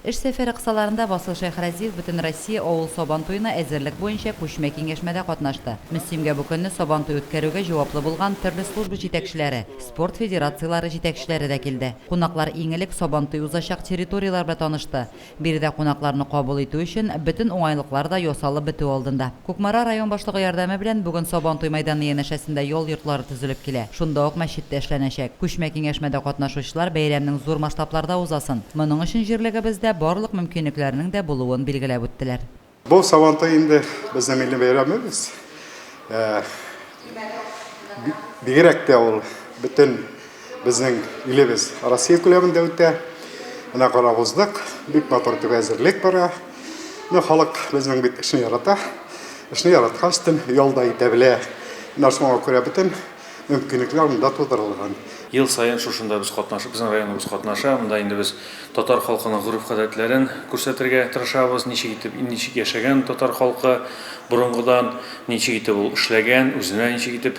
Эш сәфәре кысаларында Васил Шәйхразиев Бөтенроссия авыл Сабан туена әзерлек буенча күчмә киңәшмәдә катнашты. Мөслимгә бу көнне Сабан туй үткәрүгә җаваплы булган төрле служба җитәкчеләре, спорт федерацияләре җитәкчеләре дә килде. Кунаклар иң элек Сабан туй узачак территорияләр белән танышты. Биредә кунакларны кабул итү өчен бөтен уңайлыклар да ясалып бетү алдында. Кукмара район башлыгы ярдәме белән бүген Сабантуй мәйданы янәшәсендә ял йортлары төзелеп килә, шунда ук мәчет тә эшләнәчәк. Күчмә киңәшмәдә катнашучылар бәйрәмнең зур масштабларда узасын, моның өчен җирлегебездә барлык мөмкинлекләрнең дә булуын билгеләп үттеләр. Бу Сабантуй инде безнең милли бәйрәмебез. Бигрәк тә ул бөтен Безнең илебез Россия күләмендә үтә. Менә карап уздык, бик матур итеп әзерлек бара. Менә халык безнең бит эшне ярата. Эшне яраткач тем ялда итә белә. Менә шуңа күрә бөтен мөмкинлекләр монда тудырылган. Ел саен шушында без катнашып, безнең районыбыз катнаша. Монда инде без татар халкының гореф-гадәтләрен күрсәтергә тырышабыз. Ничек итеп, ничек яшәгән татар халкы борынгыдан, ничек итеп ул эшләгән, үзенә ничек итеп